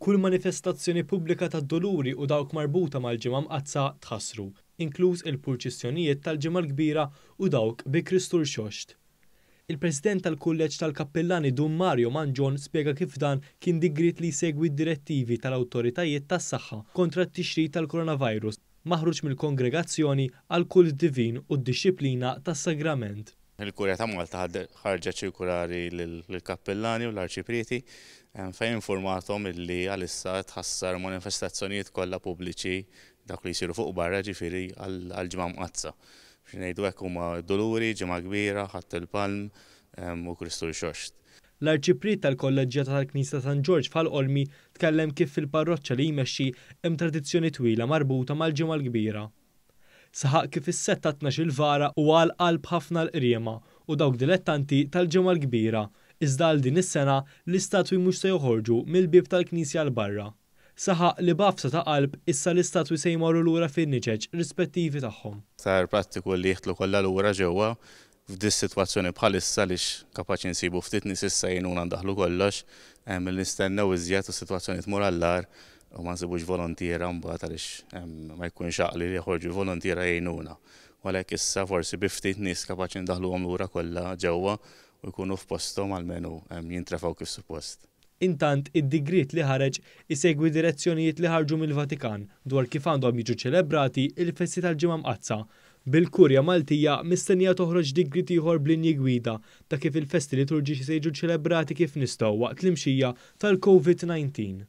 Kull manifestazzjoni pubblika tad-Duluri u dawk marbuta mal-Ġimgħa Mqaddsa tħassru, inkluż il-purċissjonijiet tal-Ġimgħa l-Kbira u dawk bi Kristu Rxoxt. Il-President tal-Kulleġġ tal-Kappillani Dun Mario Mangion spjega kif dan kien digriet li jsegwi d-direttivi tal-awtoritajiet tas-saħħa kontra t-tixrid tal-Coronavirus. maħruġ mill-kongregazzjoni għal kult divin u d-dixxiplina tas-sagrament. Il-Kurja ta' Malta ħarġet ċirkulari lill-kappillani u l-arċiprieti fejn infurmathom illi għalissa tħassar manifestazzjonijiet kollha pubbliċi, dawk li jsiru fuq barra jiġifieri, għall-Ġimgħa Mqaddsa. Biex ngħidu hekk huma Duluri, Ġimgħa Kbira, Ħadd il-Palm u Kristu Rxoxt. L-Arċipriet tal-Kolleġġjata tal-Knisja ta' San Ġorġ f'Ħal Qormi tkellem kif fil-parroċċa li jmexxi hemm tradizzjoni twila marbuta mal-Ġimgħa l-Kbira. Saħaq kif is-Sett tat-Tnax-il Vara huwa għal qalb ħafna l-qriema u dawk dilettanti tal-Ġimgħa l-Kbira iżda għal din is-sena l-istatwi mhux se joħorġu mill-bieb tal-knisja 'l barra. Saħaq li b'għafsa ta' qalb issa l-istatwi se jmorru lura fin-niċeċ rispettivi tagħhom. Sar prattiku li jidħlu kollha lura ġewwa f'dis-sitwazzjoni bħalissa għaliex kapaċi nsibu ftit nies issa jgħinuna ndaħħlu kollox, milli nistennew iżjed u s-sitwazzjoni tmur għall-agħar u ma nsibux volontiera mbagħad għaliex ma jkunx għaqli li joħorġu l-volontiera jgħinuna. U għalhekk issa forsi bi ftit nies kapaċi ndaħħluhom lura kollha ġewwa u jkunu f'posthom almenu jintrefgħu kif suppost. Intant, id-digriet li ħareġ isegwi direzzjonijiet li ħarġu mill-Vatikan dwar kif għandhom jiġu ċċelebrati l-festi tal-Ġimgħa Mqaddsa. Bil-Kurja Maltija mistennija toħroġ digriet ieħor b'linji gwida ta' kif il-festi liturġiċi se jiġu ċċelebrati kif nistgħu waqt l-imxija tal-Covid 19.